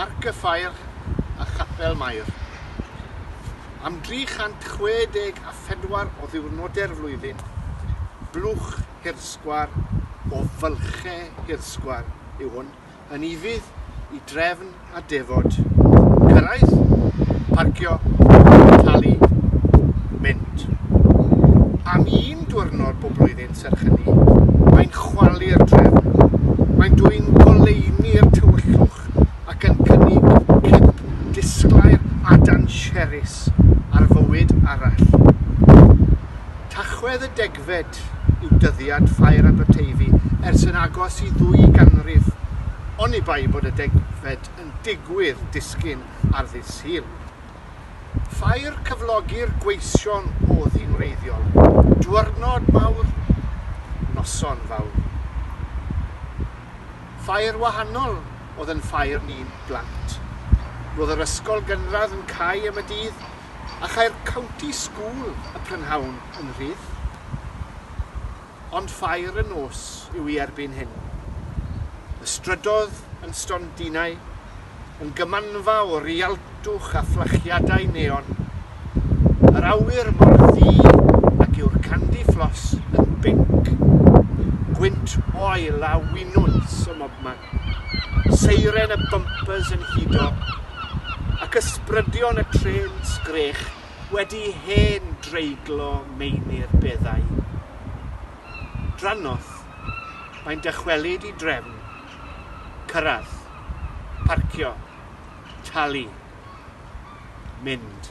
Parc y Ffair a Chapel Mair. Am 364 o ddiwrnodau'r flwyddyn, blwch hirsgwar o fylchau hirsgwar yw hwn, yn ufudd i drefn a defod, cyrraedd, parcio, talu, mynd. Am un diwrnod bob blwyddyn serch hynny, mae'n chwalu'r drefn. Mae'n dwyn goleuni'r tywyllwch ac yn cynnig cip disglair adan sheris ar fywyd arall. Tachwedd y degfed Degfed yw dyddiad Ffair Aberteifi ers yn agos i ddwy ganrif, oni bai bod y degfed yn digwydd disgyn ar ddydd Sul. Ffair cyflogi'r gweision o ddyn wreiddiol, dwyrnod mawr, noson fawr. Ffair wahanol oedd yn ffair ni'n blant. Roedd yr ysgol gynradd yn cau am y dydd a chai'r County School y prynhawn yn rhydd, ond ffair y nos yw i erbyn hyn. Y strydodd yn stondinau, yn gymanfa o rialtwch a fflachiadau neon. Yr awyr mor ddu ac yw'r candy floss yn binc. Gwynt oil a winwns ym mobman. Seiren y bympers yn hudo, ac ysbrydion y trên sgrech wedi hen dreiglo Meinir beddau. Drannoeth, mae'n dychwelyd i drefn. Cyrraedd. Parcio. Talu. Mynd.